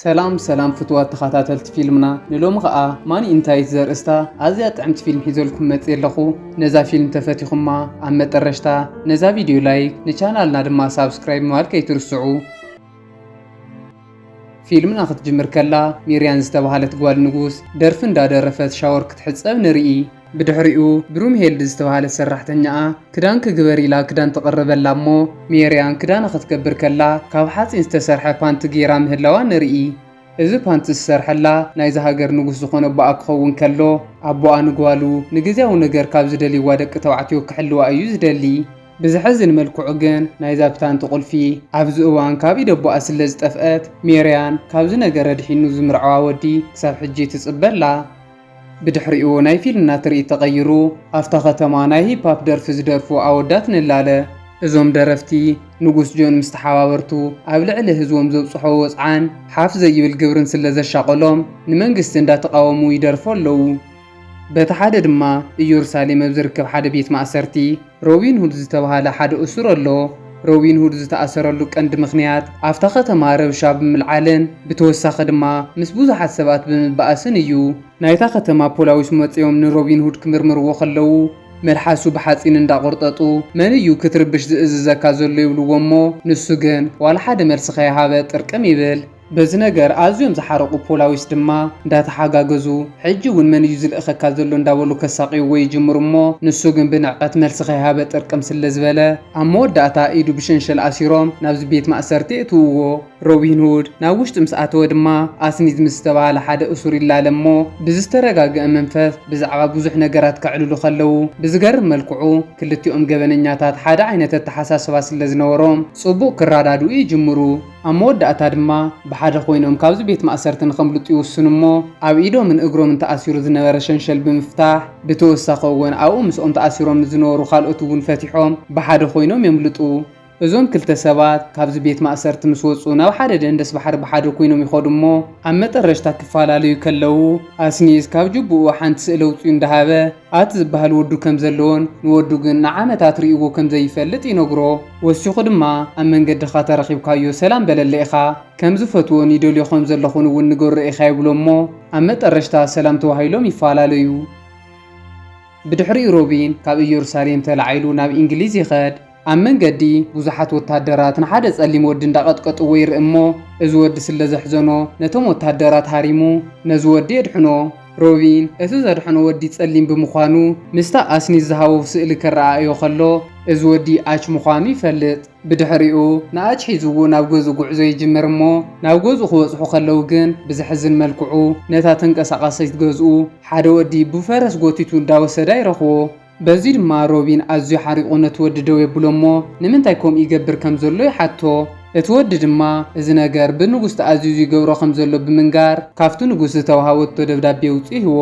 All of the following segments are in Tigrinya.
ሰላም ሰላም ፍትዋት ተኸታተልቲ ፊልምና ንሎሚ ኸኣ ማኒ ኢንታይት ዘርእስታ ኣዝያ ጥዕምቲ ፊልም ሒዘልኩም መጽ ኣለኹ ነዛ ፊልም ተፈቲኹማ ኣብ መጠረሽታ ነዛ ቪድዮ ላይክ ንቻናልና ድማ ሳብስክራይብ ምባል ከይትርስዑ ፊልምና ክትጅምር ከላ ሚርያን ዝተባሃለት ጓል ንጉስ ደርፊ እንዳደረፈት ሻወር ክትሕጸብ ንርኢ። ብድሕሪኡ ብሩምሄልድ ዝተባሃለት ሰራሕተኛኣ ክዳን ክግበር ኢላ ክዳን ተቕርበላ እሞ ሜርያን ክዳና ክትገብር ከላ ካብ ሓጺን ዝተሰርሐ ፓንቲ ጌራ ምህላዋ ንርኢ። እዚ ፓንቲ ዝሰርሐላ ናይዛ ሃገር ንጉስ ዝኾነ ኣቦኣ ክኸውን ከሎ ኣቦኣ ንጓሉ ንግዝያዊ ነገር ካብ ዝደልይዋ ደቂ ተባዕትዮ ክሕልዋ እዩ ዝደሊ። ብዘሕዝን መልክዑ ግን ናይዛ ፕታንቲ ቁልፊ ኣብዚ እዋን ካብ ኢድ ኣቦኣ ስለ ዝጠፍኣት ሜርያን ካብዚ ነገር ኣድሒኑ ዝምርዓዋ ወዲ ክሳብ ሕጂ ትጽበ ኣላ። ብድሕሪኡ ናይ ፊልምና ትርኢት ተቐይሩ ኣብታ ከተማ ናይ ሂፓፕ ደርፊ ዝደርፉ ኣወዳት ንላለ። እዞም ደረፍቲ ንጉስ ጆን ምስ ተሓባበርቱ ኣብ ልዕሊ ህዝቦም ዘብጽሕዎ ወጽዓን ሓፍ ዘይብል ግብርን ስለ ዘሻቐሎም ንመንግስቲ እንዳ ተቓወሙ ይደርፉ ኣለዉ። በቲ ሓደ ድማ እዮርሳሌም ኣብ ዝርከብ ሓደ ቤት ማእሰርቲ ሮቢን ሁድ ዝተባህለ ሓደ እሱር ኣሎ። ሮቢን ሁድ ዝተኣሰረሉ ቀንዲ ምኽንያት ኣብታ ከተማ ረብሻ ብምልዓልን ብተወሳኺ ድማ ምስ ብዙሓት ሰባት ብምባኣስን እዩ። ናይታ ከተማ ፖላዊስ መጺኦም ንሮቢን ሁድ ክምርምርዎ ከለዉ መልሓሱ ብሓጺን እንዳቆርጠጡ መን እዩ ክትርብሽ ዝእዝዘካ ዘሎ ይብልዎ እሞ ንሱ ግን ዋላ ሓደ መልሲ ከይሃበ ጥርቅም ይብል። በዚ ነገር ኣዝዮም ዝሓረቑ ፖላዊስ ድማ እንዳተሓጋገዙ ሕጂ እውን መን እዩ ዝልእኸካ ዘሎ እንዳበሉ ከሳቕይዎ ይጅምሩ እሞ ንሱ ግን ብንዕቐት መልሲ ከይሃበ ጥርቅም ስለዝበለ ኣብ መወዳእታ ኢዱ ብሸንሸል ኣሲሮም ናብዚ ቤት ማእሰርቲ የእትውዎ። ሮቢን ሁድ ናብ ውሽጢ ምስ ኣተወ ድማ ኣስኒዝ ምስ ዝተባህለ ሓደ እሱር ይላለ እሞ ብዝተረጋገኣ መንፈስ ብዛዕባ ብዙሕ ነገራት ከዕልሉ ከለው ብዝገርም መልክዑ ክልቲኦም ገበነኛታት ሓደ ዓይነት ኣተሓሳስባ ስለዝነበሮም ጽቡቕ ክራዳድኡ ይጅምሩ። ኣብ መወዳእታ ድማ ብሓደ ኮይኖም ካብዚ ቤት ማእሰርቲ ንኸምልጡ ይውስኑ እሞ ኣብ ኢዶምን እግሮምን ተኣሲሩ ዝነበረ ሸንሸል ብምፍታሕ ብተወሳኺ እወን ኣብኡ ምስኦም ተኣሲሮም ንዝነበሩ ካልኦት እውን ፈቲሖም ብሓደ ኮይኖም የምልጡ። እዞም ክልተ ሰባት ካብዚ ቤት ማእሰርቲ ምስ ወጹ ናብ ሓደ ደንደስ ባሕሪ ብሓደ ኮይኖም ይኸዱ እሞ ኣብ መጠረሽታ ክፈላለዩ ከለዉ ኣስኒዝ ካብ ጁቡኡ ሓንቲ ስእሊ ኣውጺኡ እንዳሃበ ኣት ዝበሃል ወዱ ከም ዘለዎን ንወዱ ግን ንዓመታት ሪኡዎ ከም ዘይፈልጥ ይነግሮ። ወሲኹ ድማ ኣብ መንገድኻ ተረኺብካዮ ሰላም በለለ ኢኻ። ከም ዝፈትዎን ይደልዮ ከም ዘለኹን እውን ንገሮ ኢኻ ይብሎ እሞ ኣብ መጠረሽታ ሰላም ተዋሂሎም ይፈላለዩ። ብድሕሪኡ ሮቢን ካብ እየሩሳሌም ተላዒሉ ናብ ኢንግሊዝ ይኸድ። ኣብ መንገዲ ብዙሓት ወታደራት ንሓደ ጸሊም ወዲ እንዳቐጥቀጥዎ ይርኢ እሞ እዚ ወዲ ስለ ዘሕዘኖ ነቶም ወታደራት ሃሪሙ ነዚ ወዲ የድሕኖ። ሮቢን እቲ ዘድሐኖ ወዲ ጸሊም ብምዃኑ ምስታ ኣስኒት ዝሃቦ ስእሊ ከረኣእዮ ከሎ እዚ ወዲ ኣች ምዃኑ ይፈልጥ። ብድሕሪኡ ንኣች ሒዝዎ ናብ ገዝኡ ጉዕዞ ይጅምር እሞ ናብ ገዝኡ ክበጽሑ ከለው ግን ብዘሕዝን መልክዑ ነታ ተንቀሳቓሲት ገዝኡ ሓደ ወዲ ብፈረስ ጎቲቱ እንዳወሰዳ ይረኽቦ። በዚ ድማ ሮቢን ኣዝዩ ሓሪቑ ነቲ ወዲ ደው የብሎ እሞ ንምንታይ ከምኡ ይገብር ከም ዘሎ ይሓቶ። እቲ ወዲ ድማ እዚ ነገር ብንጉስ ተኣዚዙ ይገብሮ ከም ዘሎ ብምንጋር ካብቲ ንጉስ ዝተውሃበቶ ደብዳቤ ኣውጺኡ ይህቦ።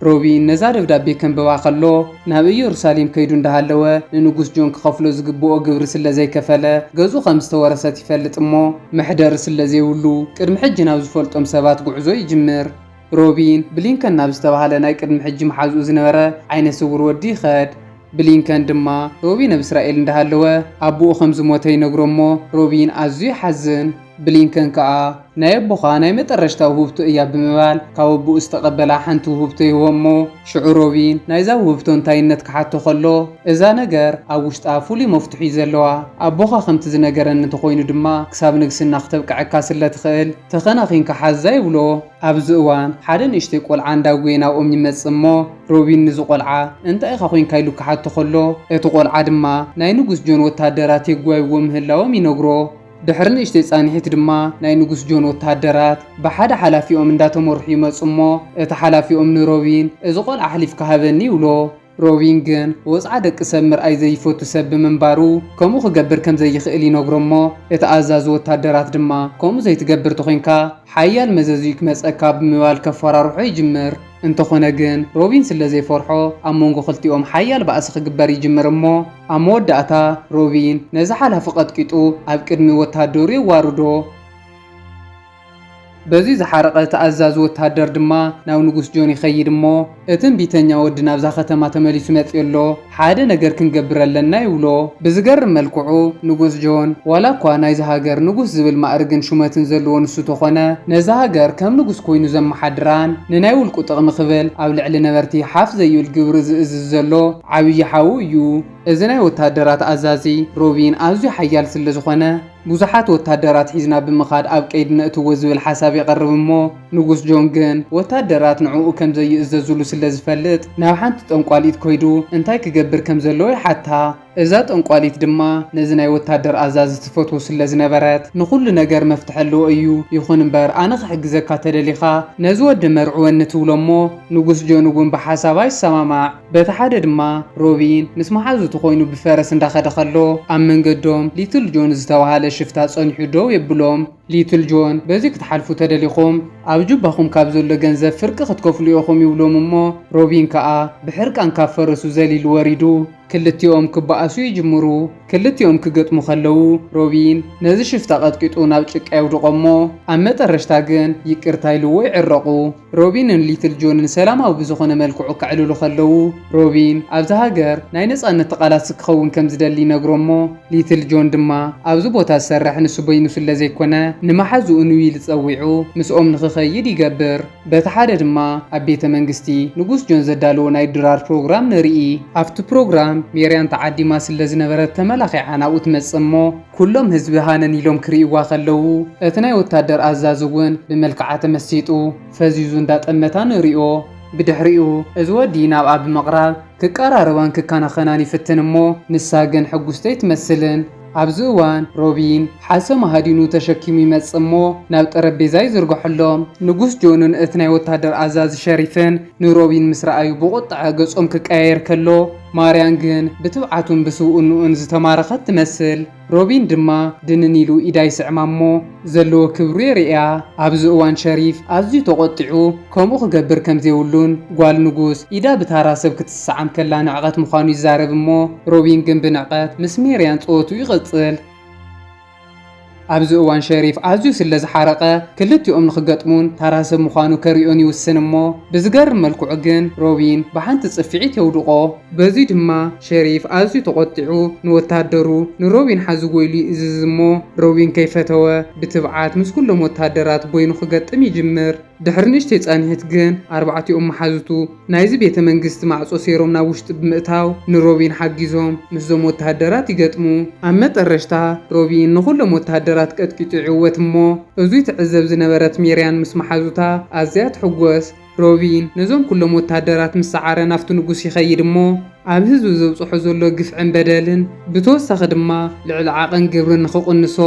ሮቢን ነዛ ደብዳቤ ከንብባ ከሎ ናብ እየሩሳሌም ከይዱ እንዳሃለወ ንንጉስ ጆን ክኸፍሎ ዝግብኦ ግብሪ ስለ ዘይከፈለ ገዝኡ ከም ዝተወረሰት ይፈልጥ እሞ መሕደሪ ስለ ዘይብሉ ቅድሚ ሕጂ ናብ ዝፈልጦም ሰባት ጉዕዞ ይጅምር። ሮቢን፣ ብሊንከን ናብ ዝተባህለ ናይ ቅድሚ ሕጂ መሓዝኡ ዝነበረ ዓይነ ስውር ወዲ ይኸድ። ብሊንከን ድማ፣ ሮቢን ኣብ እስራኤል እንዳሃለወ ኣቡኡ ከም ዝሞተ ይነግሮ እሞ ሮቢን ኣዝዩ ይሓዝን። ብሊንከን ከኣ፣ ናይ ኣቦኻ ናይ መጠረሽታ ውህብቶ እያ ብምባል ካብ ኣቡኡ ዝተቐበላ ሓንቲ ውህብቶ ይህቦ እሞ ሽዑ ሮቢን ናይዛ ውህብቶ እንታይነት ክሓቶ ከሎ እዛ ነገር ኣብ ውሽጣ ፍሉይ መፍቱሕ እዩ ዘለዋ። ኣቦኻ ከምቲ ዝነገረኒ እንተኾይኑ ድማ ክሳብ ንግስና ክተብቀዐካ ስለትኽእል ተኸናኺንካ ሓዛ ይብሎ። ኣብዚ እዋን ሓደ ንእሽተይ ቆልዓ እንዳጎየ ናብኦም ይመጽእ እሞ ሮቢን ንዚ ቆልዓ እንታይ ኢኻ ኮንካ ኢሉ ክሓቶ ከሎ እቲ ቆልዓ ድማ ናይ ንጉስ ጆን ወተሃደራት የጓይዎ ምህላዎም ይነግሮ። ድሕሪ ንእሽተይ ጻንሒት ድማ ናይ ንጉስ ጆን ወተሃደራት ብሓደ ሓላፊኦም እንዳተመርሑ ይመጹ እሞ እቲ ሓላፊኦም ንሮቢን እዚ ቆልዓ ኣሕሊፍካ ሃበኒ ይብሎ። ሮቢን ግን ወጽዓ ደቂ ሰብ ምርኣይ ዘይፈቱ ሰብ ብምንባሩ ከምኡ ክገብር ከም ዘይኽእል ይነግሮ እሞ እቲ ኣዛዚ ወታደራት ድማ ከምኡ ዘይትገብር ተኾይንካ ሓያል መዘዝ'ዩ ክመጸካ ብምባል ከፈራርሖ ይጅምር። እንተኾነ ግን ሮቢን ስለ ዘይፈርሖ ኣብ መንጎ ክልቲኦም ሓያል ባእሲ ክግበር ይጅምር እሞ ኣብ መወዳእታ ሮቢን ነዚ ሓላፊ ቀጥቂጡ ኣብ ቅድሚ ወታደሩ የዋርዶ። በዚ ዝሓረቐ እቲ ኣዛዚ ወተሃደር ድማ ናብ ንጉስ ጆን ይኸይድ እሞ እቲ እምቢተኛ ወዲ ናብዛ ከተማ ተመሊሱ መጺኡ ኣሎ ሓደ ነገር ክንገብር ኣለና ይብሎ። ብዝገርም መልክዑ ንጉስ ጆን ዋላ እኳ ናይዛ ሃገር ንጉስ ዝብል ማእርግን ሹመትን ዘለዎ ንሱ ተኾነ ነዛ ሃገር ከም ንጉስ ኮይኑ ዘመሓድራን ንናይ ውልቁ ጥቕሚ ክብል ኣብ ልዕሊ ነበርቲ ሓፍ ዘይብል ግብሪ ዝእዝዝ ዘሎ ዓብዪ ሓዉ እዩ። እዚ ናይ ወተሃደራት ኣዛዚ ሮቢን ኣዝዩ ሓያል ስለ ዝኾነ፣ ብዙሓት ወታደራት ሒዝና ብምኻድ ኣብ ቀይዲ ነእትዎ ዝብል ሓሳብ የቐርብ እሞ ንጉስ ጆን ግን ወታደራት ንዕኡ ከም ዘይእዘዙሉ ስለ ዝፈልጥ ናብ ሓንቲ ጠንቋሊት ኮይዱ እንታይ ክገብር ከም ዘለዎ ይሓታ። እዛ ጠንቋሊት ድማ ነዚ ናይ ወታደር ኣዛዚ ትፈትዎ ስለ ዝነበረት ንኹሉ ነገር መፍትሒ ኣለዎ እዩ ይኹን እምበር ኣነ ክሕግዘካ ተደሊኻ ነዚ ወዲ መርዕወኒ ትብሎ እሞ ንጉስ ጆን እውን ብሓሳባ ይሰማማዕ። በቲ ሓደ ድማ ሮቢን ምስ መሓዙቱ ኮይኑ ብፈረስ እንዳኸደ ከሎ ኣብ መንገዶም ሊትል ጆን ዝተባሃለ ሽፍታ ጸኒሑ ደው የብሎም። ሊትል ጆን በዚ ክትሓልፉ ተደሊኹም ኣብ ጁባኹም ካብ ዘሎ ገንዘብ ፍርቂ ክትከፍሉ ኢኹም ይብሎም እሞ ሮቢን ከኣ ብሕርቃን ካብ ፈረሱ ዘሊሉ ወሪዱ ክልቲኦም ክበኣሱ ይጅምሩ። ክልቲኦም ክገጥሙ ከለዉ ሮቢን ነዚ ሽፍታ ቀጥቂጡ ናብ ጭቃ የውድቖ እሞ ኣብ መጠረሽታ ግን ይቅርታ ኢልዎ ይዕረቑ። ሮቢንን ሊትል ጆንን ሰላማዊ ብዝኾነ መልክዑ ከዕልሉ ከለዉ፣ ሮቢን ኣብዛ ሃገር ናይ ነጻነት ተቓላሲ ክኸውን ከም ዝደሊ ይነግሮ'ሞ፣ ሊትል ጆን ድማ ኣብዚ ቦታ ዝሰርሕ ንሱ በይኑ ስለ ዘይኮነ ንመሓዝኡ ንዊል ጸዊዑ ምስኦም ንኽኸይድ ይገብር። በቲ ሓደ ድማ ኣብ ቤተ መንግስቲ ንጉስ ጆን ዘዳለዎ ናይ ድራር ፕሮግራም ንርኢ። ኣብቲ ፕሮግራም ሜርያን ተዓዲማ ስለ ዝነበረት ተመላኺዓ ናብኡ ትመጽእ'ሞ፣ ኩሎም ህዝቢ ሃነን ኢሎም ክሪእዋ ከለዉ እቲ ናይ ወታደር ኣዛዚ ውን ብመልክዓ ተመሲጡ ፈዚዙ እንዳ ጠመታ ንሪኦ። ብድሕሪኡ እዚ ወዲ ናብኣ ብምቕራብ ክቀራረባን ክከናኸናን ይፍትን እሞ ንሳ ግን ሕጉስቲ ኣይትመስልን። ኣብዚ እዋን ሮቢን ሓሰማ ሃዲኑ ተሸኪሙ ይመጽእ እሞ ናብ ጠረጴዛ ይዝርግሐሎም። ንጉስ ጆንን እቲ ናይ ወታደር ኣዛዚ ሸሪፍን ንሮቢን ምስ ረኣዩ ብቑጥዐ ገጾም ክቀያየር ከሎ፣ ማርያን ግን ብትብዓቱን ብስብኡንኡን ዝተማረኸት ትመስል። ሮቢን ድማ ድንን ኢሉ ኢዳ ይስዕማ እሞ ዘለዎ ክብሩ የርእያ። ኣብዚ እዋን ሸሪፍ ኣዝዩ ተቖጢዑ ከምኡ ክገብር ከም ዘይብሉን ጓል ንጉስ ኢዳ ብታራ ሰብ ክትስዓም ከላ ንዕቐት ምዃኑ ይዛረብ እሞ ሮቢን ግን ብንዕቀት ምስ ሜርያን ጸወትኡ ይቕጽል። ኣብዚ እዋን ሸሪፍ ኣዝዩ ስለ ዝሓረቐ ክልቲኦም ንኽገጥሙን ታራ ሰብ ምዃኑ ከርእዮን ይውስን እሞ ብዝገርም መልክዑ ግን ሮቢን ብሓንቲ ጽፍዒት የውድቖ። በዚ ድማ ሸሪፍ ኣዝዩ ተቖጢዑ ንወታደሩ ንሮቢን ሓዝዎ ኢሉ ይእዝዝ እሞ ሮቢን ከይፈተወ ብትብዓት ምስ ኩሎም ወታደራት በይኑ ክገጥም ይጅምር። ድሕሪ ንእሽተይ ጻንሒት ግን፣ ኣርባዕቲኦም መሓዙቱ፣ ናይዚ ቤተ መንግስቲ ማዕጾ ሴሮም ናብ ውሽጢ ብምእታው፣ ንሮቢን ሓጊዞም ምስዞም ወተሃደራት ይገጥሙ። ኣብ መጠረሽታ፣ ሮቢን ንኹሎም ወተሃደራት ቀጥቂጡ ይዕወት እሞ፣ እዙይ ትዕዘብ ዝነበረት ሜርያን ምስ መሓዙታ ኣዝያ ትሕጎስ። ሮቢን ነዞም ኩሎም ወተሃደራት ምስ ሰዓረ ናብቲ ንጉስ ይኸይድ እሞ፣ ኣብ ህዝቢ ዘብፅሖ ዘሎ ግፍዕን በደልን ብተወሳኺ ድማ ልዕሊ ዓቕን ግብሪ ንኽቕንሶ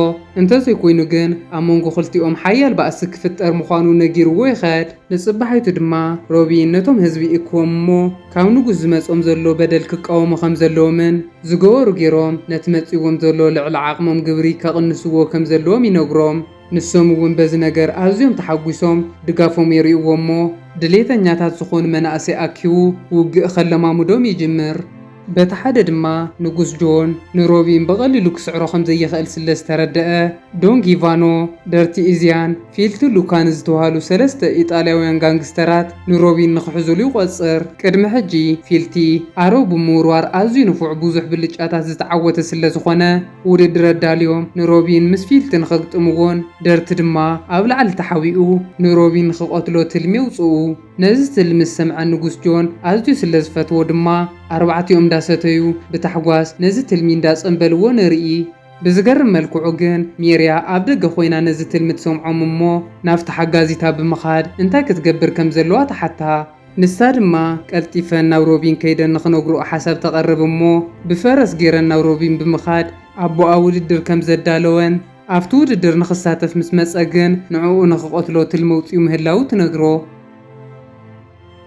እንተዘይኮይኑ ግን ኣብ መንጎ ክልቲኦም ሓያል ባእሲ ክፍጠር ምዃኑ ነጊርዎ ይኸድ። ንፅባሒቱ ድማ ሮቢን ነቶም ህዝቢ ይእክቦም እሞ ካብ ንጉስ ዝመፅኦም ዘሎ በደል ክቃወሙ ከምዘለዎምን ዝገበሩ ገይሮም ነቲ መፂዎም ዘሎ ልዕሊ ዓቕሞም ግብሪ ከቕንስዎ ከምዘለዎም ይነግሮም። ንሶም እውን በዚ ነገር ኣዝዮም ተሓጒሶም ድጋፎም የርእይዎ እሞ ድሌተኛታት ዝኾኑ መናእሰይ ኣኪቡ ውግእ ከለማምዶም ይጅምር። በቲ ሓደ ድማ ንጉስ ጆን ንሮቢን ብቐሊሉ ክስዕሮ ከም ዘይኽእል ስለ ዝተረደኣ ዶን ጊቫኖ፣ ደርቲ ኢዝያን ፊልቲ ሉካን ዝተባህሉ ሰለስተ ኢጣልያውያን ጋንግስተራት ንሮቢን ንኽሕዙሉ ይቖጽር። ቅድሚ ሕጂ ፊልቲ ኣሮ ብምውርዋር ኣዝዩ ንፉዕ ብዙሕ ብልጫታት ዝተዓወተ ስለ ዝኾነ፣ ውድድር ኣዳልዮም ንሮቢን ምስ ፊልቲ ንኽግጥምዎን ደርቲ ድማ ኣብ ላዕሊ ተሓቢኡ ንሮቢን ንኽቐትሎ ትልሚ የውጽኡ። ነዚ ትልሚ ዝሰምዐ ንጉስ ጆን ኣዝዩ ስለ ዝፈትዎ ድማ ኣርባዕቲኦም እንዳሰተዩ ብታሕጓስ ነዚ ትልሚ እንዳጸንበልዎ ንርኢ። ብዝገርም መልክዑ ግን ሜርያ ኣብ ደገ ኮይና ነዚ ትልሚ ትሰምዖም እሞ ናብታ ሓጋዚታ ብምኻድ እንታይ ክትገብር ከም ዘለዋ ትሓታ። ንሳ ድማ ቀልጢፈን ናብ ሮቢን ከይደን ንኽነግርኦ ሓሳብ ተቐርብ እሞ ብፈረስ ገይረን ናብ ሮቢን ብምኻድ ኣቦኣ ውድድር ከም ዘዳለወን ኣብቲ ውድድር ንኽሳተፍ ምስ መጸ ግን ንዕኡ ንኽቐትሎ ትልሚ ኣውጺኡ ምህላዉ ትነግሮ።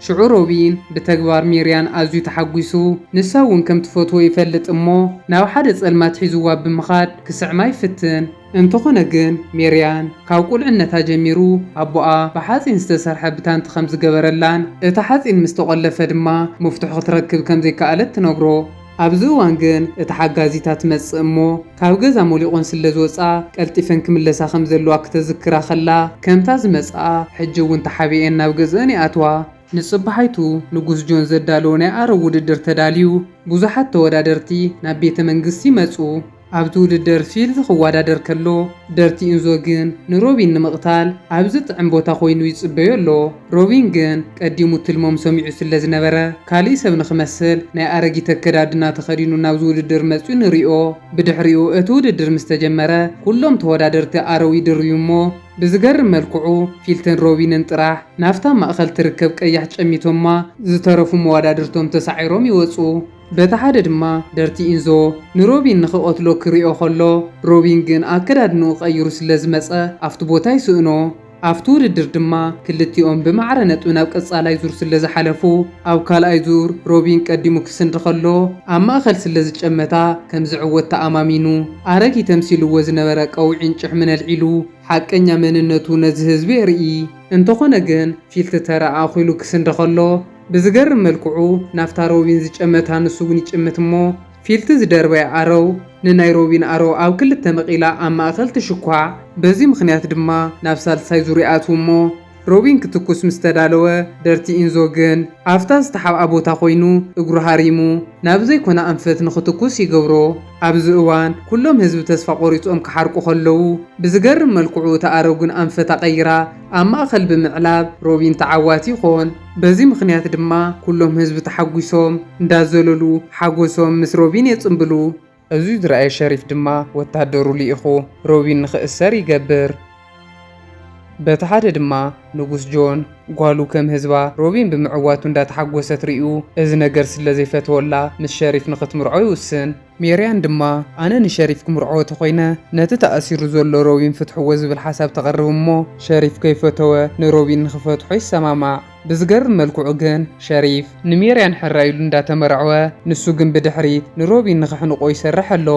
ሽዑ ሮቢን ብተግባር ሜርያን ኣዝዩ ተሓጒሱ ንሳ እውን ከም ትፈትዎ ይፈልጥ እሞ ናብ ሓደ ጸልማት ሒዝዋ ብምኻድ ክስዕማ ይፍትን። እንተዀነ ግን፣ ሜርያን ካብ ቍልዕነታ ጀሚሩ ኣቦኣ ብሓጺን ዝተሰርሐ ብታንት ኸም ዝገበረላን እቲ ሓጺን ምስ ተቖለፈ ድማ መፍትሑ ኽትረክብ ከም ዘይከኣለት ትነግሮ። ኣብዚ እዋን ግን እታ ሓጋዚታ ትመጽእ እሞ፣ ካብ ገዛ ሞሊቖን ስለ ዝወጽኣ ቀልጢፈን ክምለሳ ከም ዘለዋ ክተዝክራ ኸላ፣ ከምታ ዝመጽኣ ሕጂ እውን ተሓቢኤን ናብ ገዝእን ይኣትዋ። ንጽባሒቱ ንጉስ ጆን ዘዳለዎ ናይ ኣረግ ውድድር ተዳልዩ፣ ብዙሓት ተወዳደርቲ ናብ ቤተ መንግስቲ መጹ። ኣብቲ ውድድር ፊልዝ ክወዳደር ከሎ፣ ደርቲ ኢንዞ ግን ንሮቢን ንምቕታል ኣብ ዝጥዕም ቦታ ኮይኑ ይጽበዮ ኣሎ። ሮቢን ግን ቀዲሙ ትልሞም ሰሚዑ ስለዝነበረ፣ ካልእ ሰብ ንኽመስል ናይ ኣረጊት ኣከዳድና ተኸዲኑ ናብዚ ውድድር መጺኡ ንሪኦ። ብድሕሪኡ እቲ ውድድር ምስ ተጀመረ፣ ኩሎም ተወዳደርቲ ኣረው ይድርብዩ'ሞ፣ ብዝገርም መልክዑ ፊልትን ሮቢንን ጥራሕ ናብታ ማእከል ትርከብ ቀያሕ ጨሚቶማ፣ ዝተረፉ መወዳድርቶም ተሳዒሮም ይወጹ። በቲ ሓደ ድማ ደርቲ ኢንዞ ንሮቢን ንኽቐትሎ ክሪኦ ከሎ፣ ሮቢን ግን ኣከዳድንኡ ቀይሩ ስለዝመጸ ኣብቲ ቦታ ይስእኖ። ኣብቲ ውድድር ድማ ክልቲኦም ብማዕረ ነጥቢ ናብ ቀጻላይ ዙር ስለዝሓለፉ፣ ኣብ ካልኣይ ዙር ሮቢን ቀዲሙ ክስንዲ ከሎ ኣብ ማእከል ስለዝጨመታ ከምዝዕወት ተኣማሚኑ ኣረጊት ተምሲልዎ ዝነበረ ቀውዒን ጭሕምን ኣልዒሉ ሓቀኛ መንነቱ ነዚ ህዝቢ የርኢ። እንተኾነ ግን ፊልቲ ተራ ኣኺሉ ክስንዲ ከሎ፣ ብዝገርም መልክዑ ናብታ ሮቢን ዝጨመታ ንሱ እውን ይጭምት እሞ ፊልቲ ዝደርበያ ኣረው ንናይ ሮቢን ኣረው ኣብ ክልተ መቒላ ኣብ ማእኸል ትሽኳዕ። በዚ ምኽንያት ድማ ናብ ሳልሳይ ዙር ይኣትው እሞ ሮቢን ክትኩስ ምስ ተዳለወ ደርቲ ኢንዞ ግን ኣብታ ዝተሓብኣ ቦታ ኮይኑ እግሩ ሃሪሙ ናብ ዘይኮነ ኣንፈት ንኽትኩስ ይገብሮ። ኣብዚ እዋን ኩሎም ህዝቢ ተስፋ ቆሪፆም ክሓርቁ ከለው ብዝገርም መልክዑ እታ ኣረው ግን ኣንፈታ ቀይራ ኣብ ማእኸል ብምዕላብ ሮቢን ተዓዋቲ ይኾን። በዚ ምኽንያት ድማ ኩሎም ህዝቢ ተሓጒሶም እንዳዘለሉ ሓጎሶም ምስ ሮቢን የጽንብሉ። እዚ ዝረኣየ ሸሪፍ ድማ ወታሃደሩ ልኢኹ ሮቢን ንኽእሰር ይገብር። በቲ ሓደ ድማ ንጉስ ጆን ጓሉ ከም ህዝባ ሮቢን ብምዕዋቱ እንዳተሓጎሰት ሪኡ እዚ ነገር ስለዘይፈተወላ ምስ ሸሪፍ ንኽትምርዖ ይውስን። ሜርያን ድማ ኣነ ንሸሪፍ ክምርዖ ተኾይነ ነቲ ተኣሲሩ ዘሎ ሮቢን ፍትሕዎ ዝብል ሓሳብ ተቕርብ እሞ ሸሪፍ ከይፈተወ ንሮቢን ንኽፈትሖ ይሰማማዕ። ብዝገርም መልክዑ ግን ሸሪፍ ንሜርያን ሕራይ ኢሉ እንዳተመርዐወ ንሱ ግን ብድሕሪት ንሮቢን ንኽሕንቖ ይሰርሕ ኣሎ።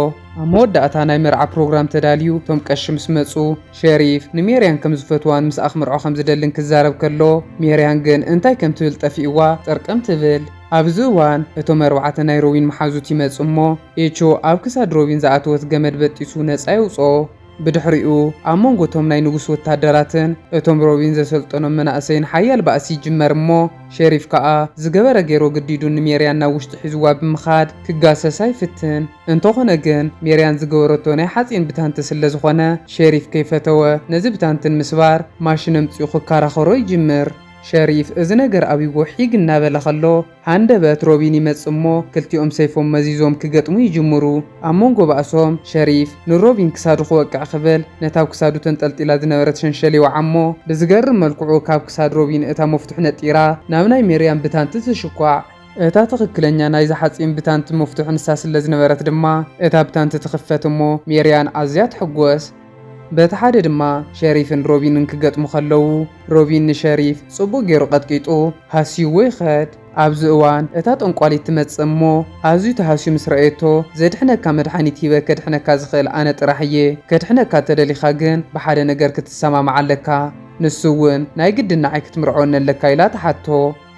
ኣብ መወዳእታ ናይ መርዓ ፕሮግራም ተዳልዩ እቶም ቀሺ ምስ መጹ ሸሪፍ ንሜርያን ከም ዝፈትዋን ምስኣ ክምርዖ ከም ዝደልን ክዛረብ ከሎ ሜርያን ግን እንታይ ከም ትብል ጠፊእዋ ጠርቀም ትብል። ኣብዚ እዋን፣ እቶም ኣርባዕተ ናይ ሮቢን መሓዙት ይመጽእ እሞ፣ ኤቾ ኣብ ክሳድ ሮቢን ዝኣተወት ገመድ በጢሱ ነጻ የውጽኦ። ብድሕሪኡ፣ ኣብ መንጎ እቶም ናይ ንጉስ ወተሃደራትን እቶም ሮቢን ዘሰልጠኖም መናእሰይን ሓያል ባእሲ ይጅመር እሞ፣ ሸሪፍ ከኣ ዝገበረ ገይሩ ኣገዲዱ ንሜርያን ናብ ውሽጢ ሒዝዋ ብምኻድ ክጋሰሳ ይፍትን። እንተኾነ ግን፣ ሜርያን ዝገበረቶ ናይ ሓጺን ብታንቲ ስለ ዝኾነ፣ ሸሪፍ ከይፈተወ ነዚ ብታንትን ምስባር ማሽን ኣምጺኡ ክከራኸሮ ይጅምር። ሸሪፍ እዚ ነገር ኣብይዎ ሒግ እናበለ ከሎ፣ ሃንደበት ሮቢን ይመጽእ እሞ ክልቲኦም ሰይፎም መዚዞም ክገጥሙ ይጅምሩ። ኣብ መንጎ ባእሶም፣ ሸሪፍ ንሮቢን ክሳዱ ክወቅዕ ክብል ነታ ኣብ ክሳዱ ተንጠልጢላ ዝነበረት ሸንሸል ይወዓ'ሞ፣ ብዝገርም መልክዑ ካብ ክሳድ ሮቢን እታ መፍቱሕ ነጢራ ናብ ናይ ሜርያም ብታንቲ ትሽኳዕ። እታ ትኽክለኛ ናይዛ ሓጺን ብታንቲ መፍቱሕ ንሳ ስለዝነበረት ድማ እታ ብታንቲ ትኽፈት እሞ ሜርያን ኣዝያ ትሕጎስ። በቲ ሓደ ድማ ሸሪፍን ሮቢንን ክገጥሙ ከለዉ ሮቢን ንሸሪፍ ጽቡቕ ጌሩ ቀጥቂጡ ሃስይዎ ይኸድ። ኣብዚ እዋን እታ ጠንቋሊት ትመጽእ እሞ ኣዝዩ ተሃስዩ ምስ ረኣየቶ ዘድሕነካ መድሓኒት ሂበ ከድሕነካ ዝኽእል ኣነ ጥራሕ እየ ከድሕነካ እተደሊኻ ግን ብሓደ ነገር ክትሰማማዕ ኣለካ ንሱ እውን ናይ ግድን ንዓይ ክትምርዐወኒ ኣለካ ኢላ ትሓቶ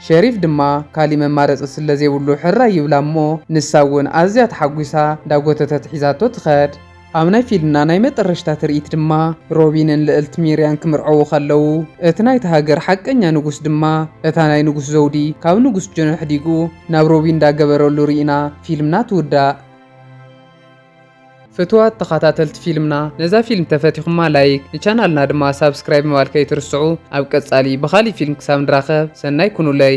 ሸሪፍ ድማ ካሊእ መማረጺ ስለ ዘይብሉ ሕራይ ይብላ እሞ ንሳ እውን ኣዝያ ተሓጒሳ እንዳጎተተት ሒዛቶ ትኸድ። ኣብ ናይ ፊልና ናይ መጠረሽታ ትርኢት ድማ ሮቢን ን ልእልት ሚርያን ክምርዐዉ ከለዉ እቲ ናይታ ሃገር ሓቀኛ ንጉስ ድማ እታ ናይ ንጉስ ዘዉዲ ካብ ንጉስ ጆን ኣሕዲጉ ናብ ሮቢን ዳገበረሉ ሪኢና ፊልምና ትዉዳእ። ፍትዋት ተኻታተልቲ ፊልምና ነዛ ፊልም ተፈቲኹማ ላይክ ንቻናልና ድማ ሳብስክራይብ ምባል ከይትርስዑ ኣብ ቀጻሊ ብኻሊእ ፊልም ክሳብ ንራኸብ ሰናይ ኩኑለይ።